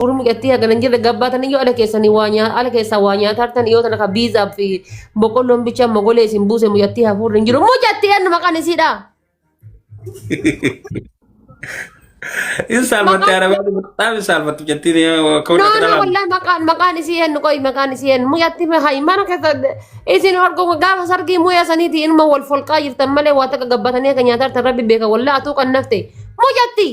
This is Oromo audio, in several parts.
Warri mucattii hagana hin jirre gabbaatan iyyuu ala keessanii waa nyaa- ala keessaa waa nyaataa jirtan yoo tana ka biizaa fi boqqolloon bichaa mogolee isin buuse mucattii hafuurri hin jiru. Mucattii eenyu maqaan isiidha? Hin saalfatte Maqaan- arabaan murtaaf hin saalfattu jettiin akka No, walitti no, dhalaan. wallahi maqaan maqaan isii eenyu qoyi maqaan isii eenyu mucattii fi hayi mana keessa isin horgomu gaafa sargii muyaa saniiti inuma wal folqaa jirtan malee waa takka gabbatanii akka nyaataa jirtan rabbi beeka wallahi atuu kan nafte mucattii.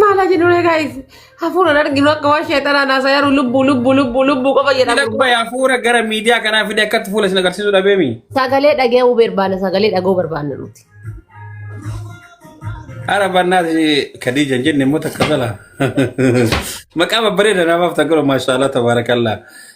Maal haa jennu egaa hafuuraan arginu akka waan sheexanaan haasaa yeroo lubbuu lubbuu lubbuu lubbuu qofa jedhamu. Lakkoofsa hafuura gara miidiyaa kanaa fide akkatti fuula isin agarsiisuu dhabeemi. Sagalee dhaga'uu barbaanna sagalee dhaga'uu barbaanna nuti. Haadha barnaas Khadiija hin jenne immoo takka dhala. Maqaa babbareeda namaaf takka maashaallah tabaarakallaa.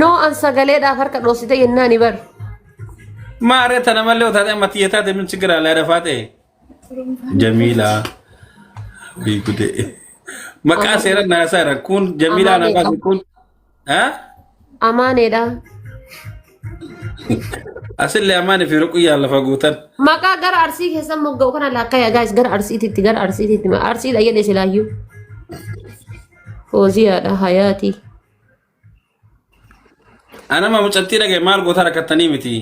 Noo an sagaleedhaaf harka dhoosite yennaa ni bar. Maaree tana malee otaate amma tiyya taate min sigira alaa dafaa ta'e. Jamiilaa. Wii gudee. Maqaa seera naasaa irra kun Jamiilaa Amaa nafaa kun. Haa? Amaaneedha. Asillee amaanii fi ruquyyaa lafa guutan. Maqaa gara arsii keessan mogga'u kana laakkayaa gaayis gara arsiititti gara arsiititti arsiidha jedhe silaayyuu. Fooziyaadha hayaatii. Anama mucattii dhagaye maal gootaa rakkattanii miti.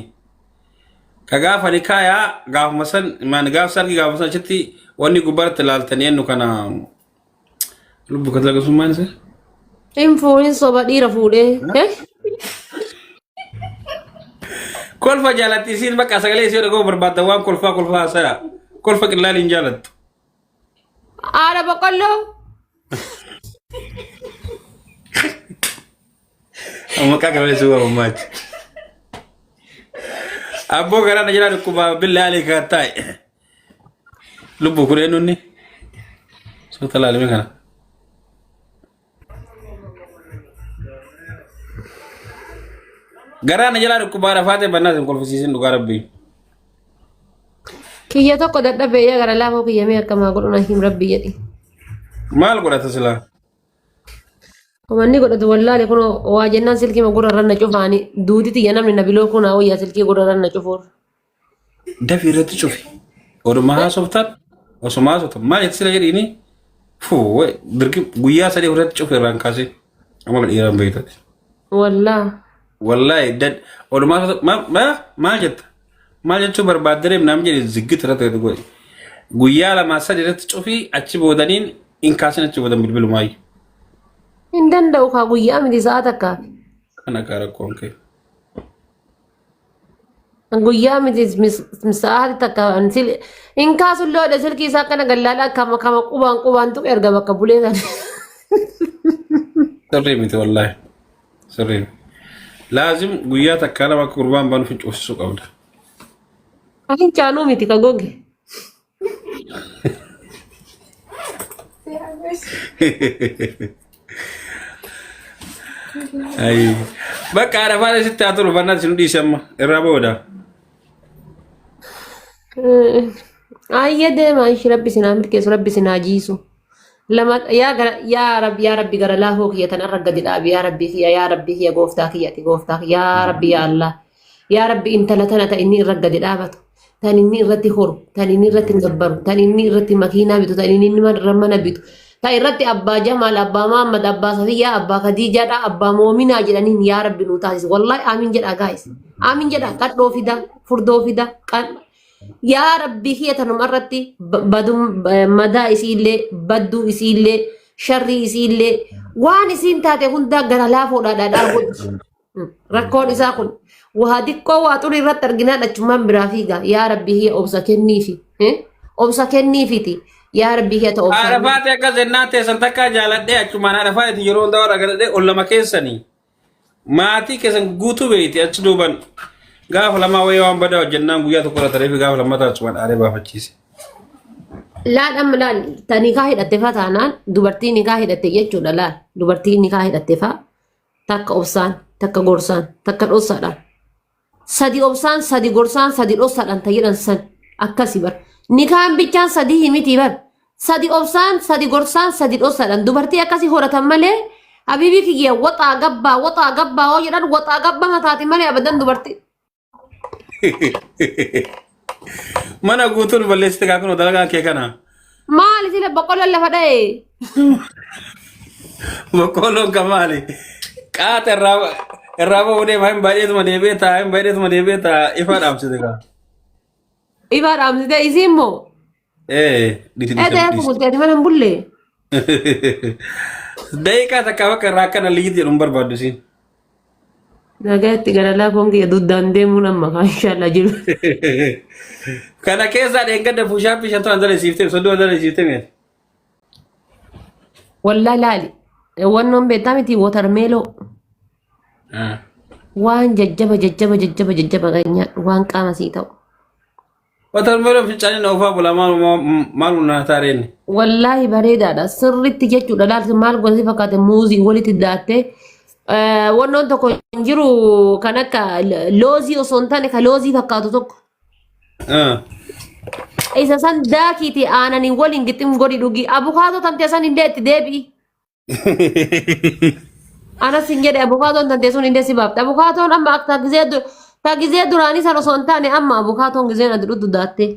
Ka gaafa nikaayaa gaafuma san maan gaaf sargi gaafuma san achitti wanni gubbaratti laaltanii ennu kana lubbu ka dalagasummaan isa. Hin fuudhin soba dhiira fuudhee. Eh? Kolfa jaalatti isiin bakka sagalee isii dhaga'uu barbaadda waan kolfaa kolfaa haasaya. Kolfa qillaalii hin jaalattu. Haadha boqqolloo. Amma akka kana suuba ummaachi. Abboo garaa na jala dhukkubaa billaa alee kaa taa'e. Lubbuu kun eenyunni? Suuta laalime kana. Garaa na jalaa dhukkubaa rafaatee bannaa sin kolfisiisin dhugaa rabbii. Kiyya tokko dadhabee yaa gara laafoo kiyya mee akkamaa godhuna him rabbi jedhi. Maal godhata silaa? Umanni godhatu wallaale kun waa jennaan silkii gurra irra na cufaani duuti tiyya namni na biloo kun haa wayyaa silkii gurra irra na cufuur. Dafi irratti cufi. Oduma haasoftan osuma haasoftan maal itti sila jedhiini fuu birgi guyyaa sadii irratti cufi irraan kaasee amala dhiiraan beektati. Wallaa. Wallaahi dad oduma haasoftan ma- ma- maal jetta maal jechuu barbaadde deem naam jedhi ziggit irratti gadi godhi. Guyyaa lamaa sadii irratti cufi achi boodaniin hin kaasin achi boodan bilbilumaayi. Hin danda'u kaa guyyaa miti sa'a takkaa. Kana kaa rakkoon kee. Guyyaa miti sa'aati takka hin kaasu illee oda silkii isaa akkana gallaala akkama kama qubaan qubaan tuqe erga bakka bulee sana. Sirrii miti wallaahi. Sirrii. Laazim guyyaa takkaa lama akka gurbaan banu fincuusisuu qabda. Hin caanuu miti ka goge. Ayi. Bakka arafaa sitti haa turu bannaan sin dhiise amma irraa booda. Ayya deema ishi rabbi sinaa milkeessu rabbi sinaa jiisu. Lama yaa gara yaa rabbi yaa rabbi gara laafoo kiyya tan irra gadi dhaabi yaa rabbi kiyya yaa rabbi kiyya gooftaa kiyya ati gooftaa kiyya yaa rabbi yaa Allah yaa rabbi intala tana ta inni irra gadi dhaabatu. tan inni irratti horu, tan inni irratti gabbaru, tan inni irratti makiinaa bitu, tan inni irra mana bitu, tan irratti abbaa Jamaal, abbaa Mahammad, abbaa Safiyyaa, abbaa Khadiijaadha, abbaa Moominaa jedhaniin yaa Rabbi nuu taasisi. Wallahi aamin jedhaa gaayis. Aamin jedhaa qadhoo fida, furdoo fida, qadha. Yaa Rabbi kiyya tanuma irratti ba- badum- ba- madaa isiillee, badduu isiillee, sharrii isiillee, waan isiin taate hundaa gara laafoodhaa dhaadhaa godhi. Rakkoon isaa kun waa xiqqoo waa xurii irratti arginaan achummaan biraa fiiga. Yaa rabbi hiya obsa kenniifi. eh? Obsa kenniifiti. Yaa rabbi hiya ta obsa. Arafaati akka zennaa teessan takkaa jaaladhee achumaan arafaati yeroo hundaa warra galadhee ol lama keessanii maatii keessan guutuu beeyti achi duuban gaafa lamaa wayii waan badaa hojjennaan guyyaa tokko irra tareefi gaafa lammataa achumaan aaree baafachiise. Laal amma laal ta nikaa hidhatte faa taanaan dubartii nikaa hidhatte jechuudha laal dubartii nikaa hidhatte faa takka obsaan, takka gorsaan, takka dhossaadhaan. Sadi obsaan, sadi gorsaan, sadi dhossaadhaan ta jedhan san akkasi bar. Nikaan bichaan sadii himitii bar. Sadi obsaan, sadi gorsaan, sadi dhossaadhaan. Dubartii akkasi horatan malee habiibii kiyya waxaa gabbaa, waxaa gabbaa hoo jedhan waxaa gabbaa mataati malee abadan dubartii. Mana guutuun balleessite kaa kunoo dalagaan kee kana. Maali sila boqqolloon lafa dha'e? Boqqoolloon kan maali? Qaata irraa irraa bahuu deema hin baay'eetuma deebi'ee ta'a hin baay'eetuma deebi'ee ta'a ifa dhaamsite kaa. Ifaa dhaamsite isiin moo? Ee, dhisi Ee dhisi ta'ee dhisi. fuguddee mana hin bullee. Daqiiqaa takka bakka irraa akka na liyyiti jedhu hin barbaaddu siin. Nagaatti gara laafoon kiyya duddaan deemuun amma kaa inshaallah jiru. Kana keessaa dheengadda puushaappii shantu an dalesiifte sodduu an dalesiifte mee. Wallaa laali. Wannoon beektaa miti watarmeeloo. Waan jajjaba jajjaba jajjaba jajjaba kan nyaadhu waan qaama sii ta'u. Watermelon fincaanii na ofaa bulaa maal maal naa taareen. Wallaahi bareedaadha. Sirriitti jechuudha. Laalti maal gosa fakkaate muuzii walitti daattee. Eh, Wannoon tokko hin jiru kan akka lo- loozii osoo hin taane kan loozii fakkaatu tokko. Isa san daakiitii aananii waliin gixxim godhi dhugi. Abukaatoo tamtee san hin deetti deebi'i. Ana sin jedhe abukaatoon tantee sun indee si baafte. Abukaatoon amma akka ta gizee du- ta gizee duraanii san osoo hin taane amma abukaatoon gizeen ati dhudhu daattee.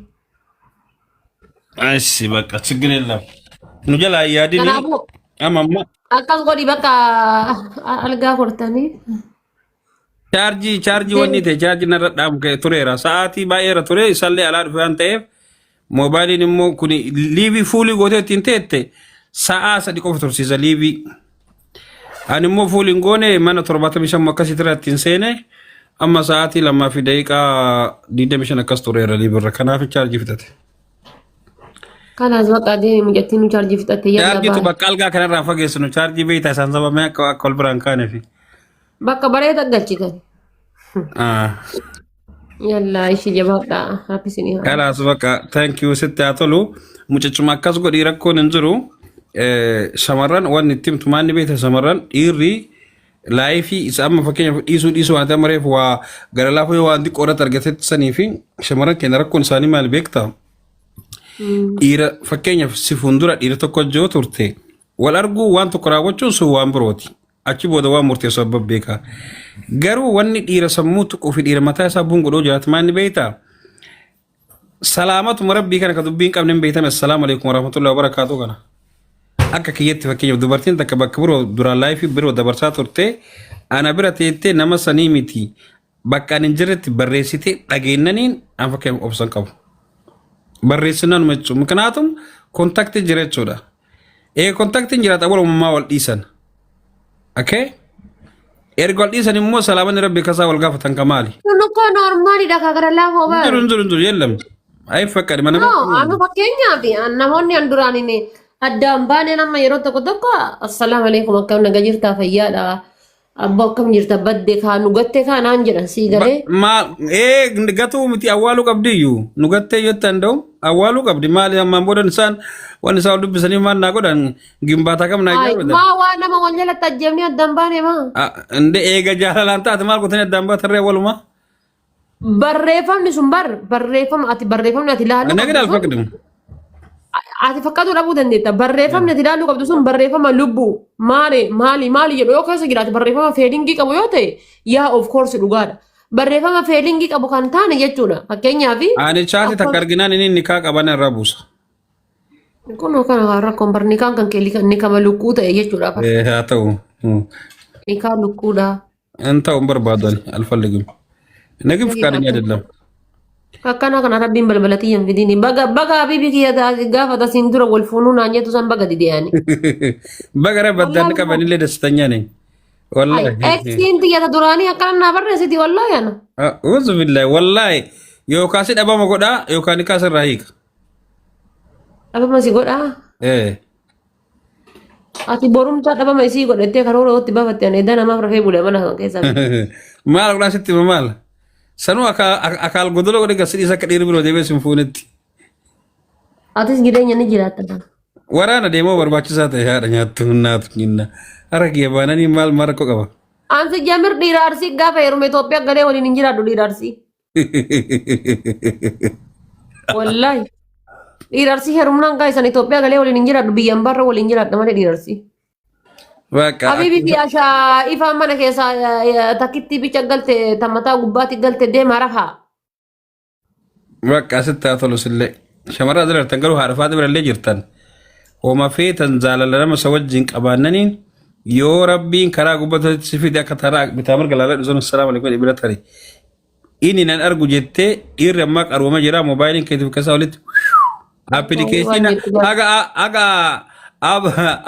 Assi bakka ችግር የለም nu jalaa hin yaadini Kanaafuu amma amma akkas godhi bakka algaa kortanii. Chaarjii chaarjii Deen- wanni ta'e chaarjii narra dhaamu ka'e tureera. Sa'aatii baay'eera ture isallee alaa dhufe waan ta'eef moobaayiliin immoo kun liivii fuulii gootee ittiin teette sa'aa sadii qofa tursiisa liivii. Ani immoo fuulii hin goone mana torbaatamii shan akkasitti irra ittiin seene amma sa'aatii lamaa fi daqiiqaa digdamii shan akkas tureera liivirra kanaaf chaarjii fixate. Kanaas baqa deemi mijattiin nu chaarjii fixatte yalla Chaarjiitu baala. bakka algaa kanarraa fageessinu chaarjii beektaa isaan sababni akka akka wal biraan kaaneefi. Bakka bareeda galchitan. Ah, Yallaa ishii jabaadhaa. Happy sinii haa. Kalaas bakka thank you sitti haa tolu. Mucachuma akkas godhii rakkoon hin jiru. Eh, Shamarran wanni itti himtu maanni beekta shamarran dhiirri laayifii isa amma fakkeenyaaf dhiisuu dhiisuu waan ta'e mareef waa gara laafuu yoo waan xiqqoo irratti argatetti sanii fi shamarran keenya rakkoon isaanii maal beekta? Dhiira fakkeenyaaf si fuuldura dhiira tokko hojjoo turte wal arguu waan tokko raawwachuun sun waan birooti. achi booda waan murteessu abba beeka. Garuu wanni dhiira sammuu tuquu fi dhiira mataa isaa buun godhoo jiraatu maal ni beektaa? Salaamatuma rabbii kana ka dubbii hin qabne hin beektame assalaamu alaikum warahmatullahi wabarakaatu kana. Akka kiyyatti fakkeenyaaf dubartiin takka bakka biroo duraan laayifii biroo dabarsaa turte ana bira teettee nama sanii miti Bakka ani hin jirretti barreessitee dhageennaniin an fakkeenyaaf obsa hin qabu. Barreessinaan uma jechuun mikinaatum kontaktii jira jechuudha. Ee kontaktiin jiraata wal uumamaa wal dhiisan. Okay? Erga wal dhiisan immoo salaamanni rabbi kasaa wal gaafatan ka maali? Kun uko normaali dha ka gara laafoo Hin jiru bara. hin jiru hin jiru yeellam. Ayi fakkadhi mana No, amma fakkeenyaaf namoonni an duraan hin addaan baaneen amma yeroo tokko tokko assalaamu alaikum akkam naga jirtaa fayyaadha. Abbo akkam jirta badde kaa nu gatte kaa naan jedhan sii Ba- galee. ma ee gatuu miti awwaaluu qabdi iyyuu nu gattee yoo ta'an da'u awwaaluu qabdi maali ammaan booda isaan waan isaan dubbisanii maal naa godhan gimbaataa kam naa Ay, ijaaru maa waa nama wal jalatti ajjeefnee addaan baane maa. inde eega jaalalaan taate maal gootanii addaan baatarree walumaa Barreeffamni sun bar barreeffama ati barreeffamni ati ilaaluu Ana qabdu gidal sun fakdu. ati fakkaatuu dhabuu dandeetta. Barreeffamni ati ilaaluu qabdu sun barreeffama lubbuu maali maali maali jedhu yoo keessa jiraate barreeffama feelingii qabu yoo ta'e yaa of course dhugaadha. Barreeffama feelingii qabu kan taane jechuudha. Fakkeenyaaf Ani chaati takka arginaan inni nikaa qaban irra buusa. kun kana rakkoon bar nikaan kan keelii kan nikama lukkuu ta'e jechuudha. Eh, Haa ta'u. Hmm. Nikaa lukkuudha. Hin ta'u hin barbaadu ani alfalligim. Nagin fakaadanya jedhama. Akkana kana rabbiin balbala tiyya hin fidini. Baga baga habibi kiyya taasi gaafa tasiin dura wal fuunuu naan jettu san baga dideyaani. Bagara baddaan qabanillee dassitanya ne. Wallahi. Eksiin tiyya ta duraanii akkana naa barreessiti wallahi ana. Uuzu billahi wallahi yookaan si dhabama godhaa yookaan ni kaasirraa hiika. Dhabama si godhaa. Eh. Ati borumtaa dhabama isii godhattee karoora ootti bafatte ani edda namaaf rafee bule mana kan keessaa. maal godhaa sitti hima maal sanuu akaa- ak- akaal godoloo godhe gasidhiis akka dhiirri biroo deebee sin fuunetti Atis jireenya ni jiraatta kan. waraana deemoo barbaachisaa ta'e haadha nyaattu hunnaatu nyinna aragee baananii maal maal rakkoo qaba Ansi jamir dhiira arsii gaafa heerume Itoophiyaa galee waliin hin jiraadhu dhiira arsii. Wallaahi. Dhiirarsi heerumnaan kaa isan Itoophiyaa galee waliin hin jiraadhu biyyan barra waliin jiraadha malee dhiirarsi. Bakka Habibi fi Ashaa ifaan mana keessaa eh, takkitti bicha galte tammataa gubbaatti galte deema rafa. bakka asitti haa tolus illee. Shamarran asirratti garuu haadha faaxi birallee jirtan. Homa feetan jaalala nama isa wajjin qabaannaniin yoo rabbiin karaa gubbatatti si fide akka taraa bitaa mirga laalaa dhusan assalaam alaikum ibira tari. Inni nan argu jettee dhiirri ammaa qarooma jira moobaayiliin keetiif keessaa walitti appilikeeshiina haga haga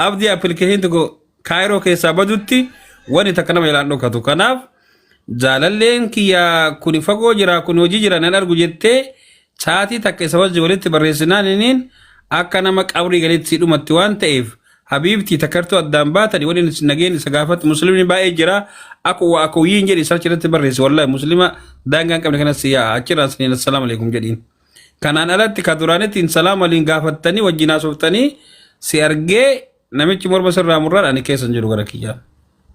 abdii appilikeeshiin tokko kaayiroo keessaa badutti wani takka nama ilaan dhokatu kanaaf jaalalleen kiyya kuni fagoo jira kuni hojii jira nan argu jettee Sa'aatii takka isa wajji walitti barreessinaan iniin akka nama qabrii galitti sii dhumatti waan ta'eef habiibtii takartuu addaan baatani waliin isin nageen isa gaafatti muslimni baay'ee jira aku wa akuyyiin jedhi sarchi irratti barreessi wallahi muslima daangaa hin qabne kanas si yaa'a achirraan siniin assalaamu alaikum jedhiin. Kanaan alatti ka duraanitti hin salaam waliin gaafattanii wajjin haasoftanii si argee namichi morma sirraa murraan ani keessa hin jiru gara kiyyaa.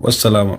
Wassalaama.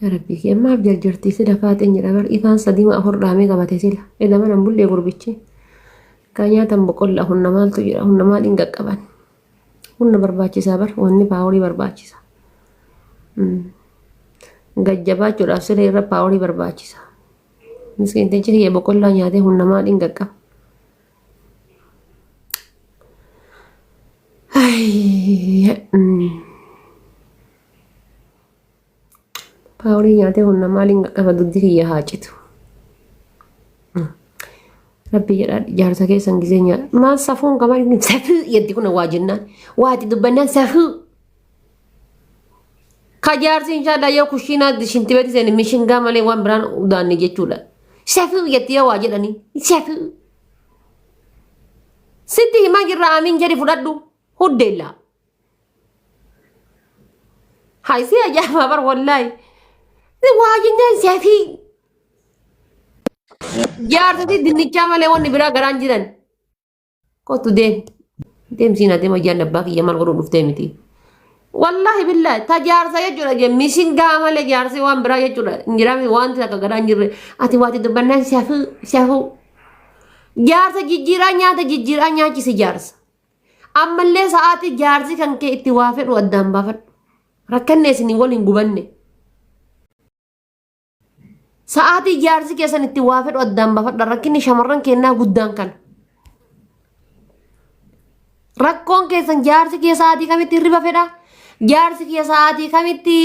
Yaa rabbii kee maaf jarjartii sila faaxeen jedha bar ifaan sadima afur dhaamee qabate sila ila mana bullee gurbichi kaa nyaatan boqolla hunna maaltu jira hunna maaliin qaqqaban hunna barbaachisaa bar wanni paaworii barbaachisa gajjabaachuudhaaf sila irra paaworii barbaachisa miskiintichi kiyya boqollaa nyaatee hunna maaliin qaqqaba Ay, mm. Paawulii nyaatee humna maaliin qaqqaba dugdi kiyya haa citu. Rabbi jedhaa jaarsa keessan gisee nyaata. Maal safuun qaban inni safuu jedhi kun waa jennaan. Waati dubbannaan safuu. Ka jaarsi inshaallah yoo kushiinaa shinti beeti seeni mishingaa malee waan biraan udaanne jechuudha. Safuu jetti yoo waa jedhanii. Safuu. Sitti himaa jirra aamiin jedhi fudhadhu. Huddeellaa. Hay si ajaa'ibaa bar wallaahi. Waa jennaan siyaasii jaarsatii dinnichaa malee wanni biraa garaan jiran. Kottu deem. Deemsiin adeema jaalli abbaa kiyya maal godhuu dhuftee miti. Wallaahi billaahi ta jaarsa jechuudha jee mishingaa malee jaarsi waan biraa jechuudha hin jiraame wanti akka garaan jirre ati waati dubbannaan siyaafuu siyaafuu. Jaarsa jijjiiraa nyaata jijjiiraa nyaachisi jaarsa. Ammallee sa'aatii jaarsi kan kee itti waa fedhu addaan baafadhu. Rakkanne isin wal hin gubanne. Sa'aatii jaarsi keessan itti waa fedhu addaan baafadha. Rakkinni shamarran kennaa guddaan kana. Rakkoon keessan jaarsi kee sa'aatii kamitti hirriba fedha? Jaarsi kee sa'aatii kamitti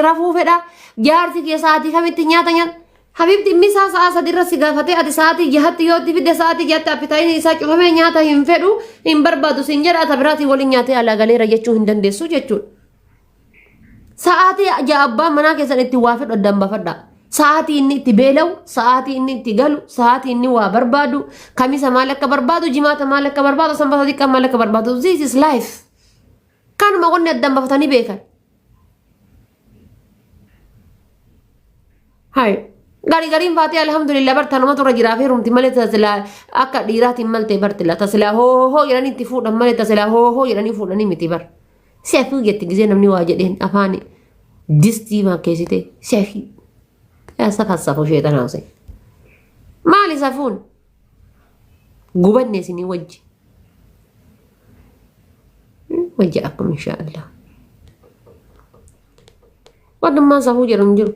rafuu fedha? Jaarsi kee sa'aatii kamitti nyaata nyaata? Habibti inni isaa sa'a sadi irra si gaafatee ati sa'aatii jahatti yoo itti fidde sa'aatii jahatti appitaayitiin isaa cufamee nyaata hin fedhu hin barbaadu siin jedha ata biraatiin waliin nyaatee alaa galeera jechuu hin dandeessu jechuudha. Sa'aatii ja'a abbaan manaa keessan itti waa fedhu addaan baafadha. Sa'aatii inni itti beela'u, sa'aatii inni itti galu, sa'aatii inni waa barbaadu, kamisa maal akka barbaadu, jimaata maal akka barbaadu, sanbata xiqqaa maal akka barbaadu. This is life. Kanuma wanni addaan baafatanii beekan. Hai. Gari gariin faatee alhamdulillah bar tanuma turra jiraa fi rumti malee tasilaa akka dhiiraatiin malte bartila tasilaa hoo hoo jedhanii itti fuudhan malee tasilaa hoo hoo jedhanii fuudhanii miti bar. Seefuu jetti gisee namni waa jedheen afaani distii maakkeessitee seefii. Yaa safa safu sheexanaa usee. Maali safuun? gubanne isinii wajji wajji akkum insha allah wantummaan safuu jedhu hin jiru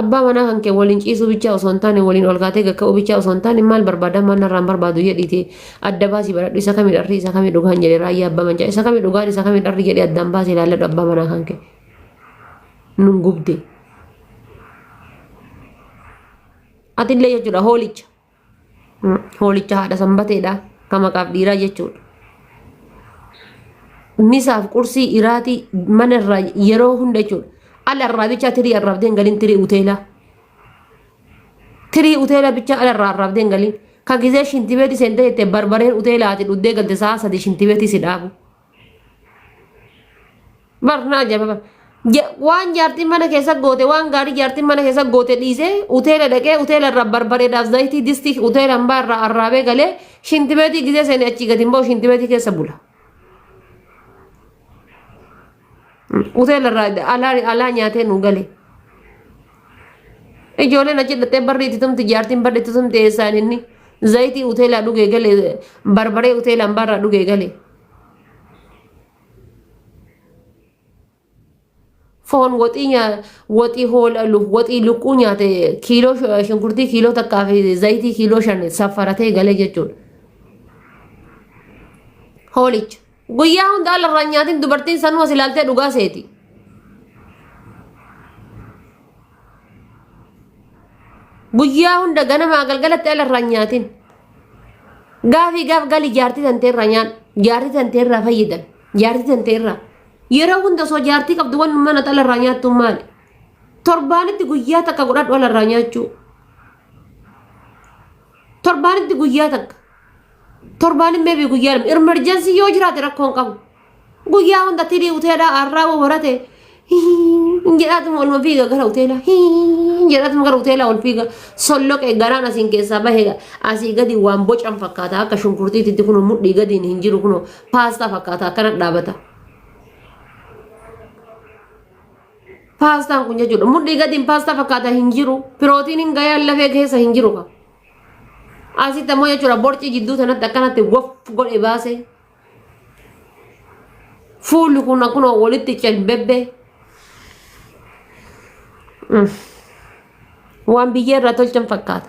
abbaa manaa kan kee waliin ciisuu bichaa osoo hin taane waliin ol kaatee gakka'uu bichaa osoo hin taane maal barbaada maal narraan barbaadu jedhiiti adda baasii baradhu isa kami dharri isa kami dhugaan jedhe raayyaa abbaa mancaa isa kami dhugaan isa kami dharri jedhe addaan baasii ilaalladhu abbaa manaa kan kee nun gubdee Atillee jechuudha hoolicha. Hoolicha haadha sanbateedha. Kan maqaaf dhiiraa jechuudha. Misaaf qursii iraatii mana irraa yeroo hunda jechuudha. Ala irraa bichaa tirii arraabdeen galiin tirii uteelaa. Tirii uteelaa bichaa ala irraa arraabdeen galiin. Ka gizee shintibeeti seentee jettee barbareen uteelaa ati dhuddee galte sa'a sadii shintibeetii si dhaabu. Barnaa jaba bar. Ja- Waan jaartiin mana keessa goote waan gaarii jaartiin mana keessa goote dhiisee hoteela dhaqee hoteela irraa barbareedaaf zayitii distii hoteela hambaa irraa arraabee galee shintibeetii gisee seenee achii gadi hin ba'u shintibeetii keessa bula. Hoteela irraa alaa alaa nyaatee nu galee. Ijoolleen achi dhattee barri itti tumti jaartiin barri itti tumti eessaan inni zayitii hoteelaa dhugee galee barbaree hoteela hambaa irraa dhugee galee. foon waxii nyaa waxii hoola lu- waxii lukkuu nyaate kiiloo sh- shunkurtii kiiloo takkaa fi zayitii kiiloo shan saffaratee galee jechuudha. Hoolicha. Guyyaa hundaa lafarraa nyaatiin dubartiin sanuu as ilaaltee dhugaa seeti. Guyyaa hunda ganamaa galgalatti ala irraa hin nyaatin. Gaafii gaaf gali jaartii tantee irraa nyaadhu. Jaartii tantee irraa fayyadan. Jaartii tantee irraa. Yeroo hunda osoo jaartii qabdu waan mana ala irraa nyaattu maali? Torbaanitti guyyaa takka godhadhu ala irraa nyaachuu. Torbaanitti guyyaa takka. Torbaanitti meebii guyyaa lama. Emerjensii yoo jiraate rakkoo hin qabu. Guyyaa hunda tirii hoteelaa har'aa woo barate hin jedhaatuma olma fiiga gara hoteelaa hin jedhaatuma gara hoteelaa ol fiiga solloqe garaan asiin keessaa bahe asii gadi waan bocan fakkaata akka shunkurtiititti kun mudhii gadiin hin jiru kun paastaa fakkaata akkana dhaabata. Paastaan kun jechuudha mudhii gadiin paastaa fakkaata hin jiru pirootiiniin gayaan lafee keessa hin jiru ka. Asitti ammoo jechuudha borcii jidduu sanatti akkanatti waf godhe baasee. Fuulli kun akkuma walitti calbebbe waan biyyee irraa tolchan fakkaata.